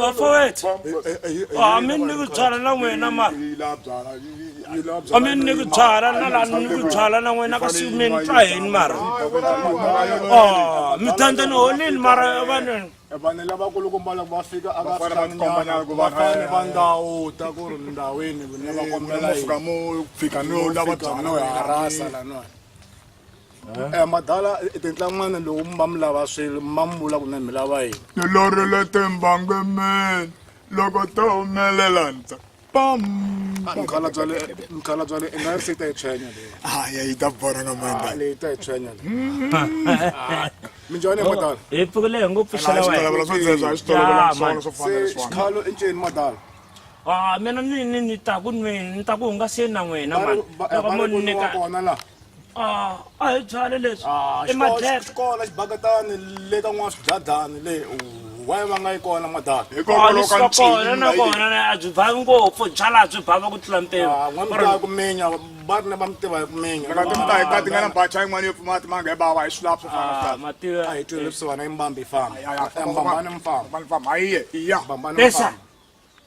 vafowethu a mi ni ku byala na n'wina mara mi ni ku byala na lani ni ku byala na n'wina ka siyumeni twa hini mara mi tandza ni holini mara vaneni vanhu lavakulu kumbala va fika a va fikanyaafane va ndhawu ta ku ri ndhawini ne va kombela fika mo fika no lava byana no harasa lanoa Eh, madala tintlangwana lowu mi va mi lava swilo mi va mi vula kunene mi lava yini tilorile timbange mene loko to humelela ndza pam mkhala bya le mkhala bya le i nga ri se yi ta yi tshwenya leyi haya yi ta bora nga manda leyi ta yi tshwenya leyi minjhani madala hi pfukile hi ngo pfuxela wena swo dzeza hi switolovela swona swo fanele swona xikhalo i nceni madala ah mina ni ni ni ta ku nweni ni ta ku hungaseni na n'wina mani loko mo ni nyika kona laha Ah, a hi byale leswi Ah, i xikolo- madleka xikolo xibakatani le ka n'wana swibyadani le waye va nga yi kona madaka hikokwalaho ka kona na ncini kona na- a byi bavi ngopfu byala byi bava ku tlula mpimo Ah, n'wana mutaya ku minya va ri ne va mi tiva hi ku minya laka ti mutayi ta ti nga na bacha yin'wana yo pfumati manga hi bava hi swilapso Ah, mativa a hi twile leswiwani i mbambi yi famba mbambani mi famba famba hayiye iya mbambani mi Pesa. famba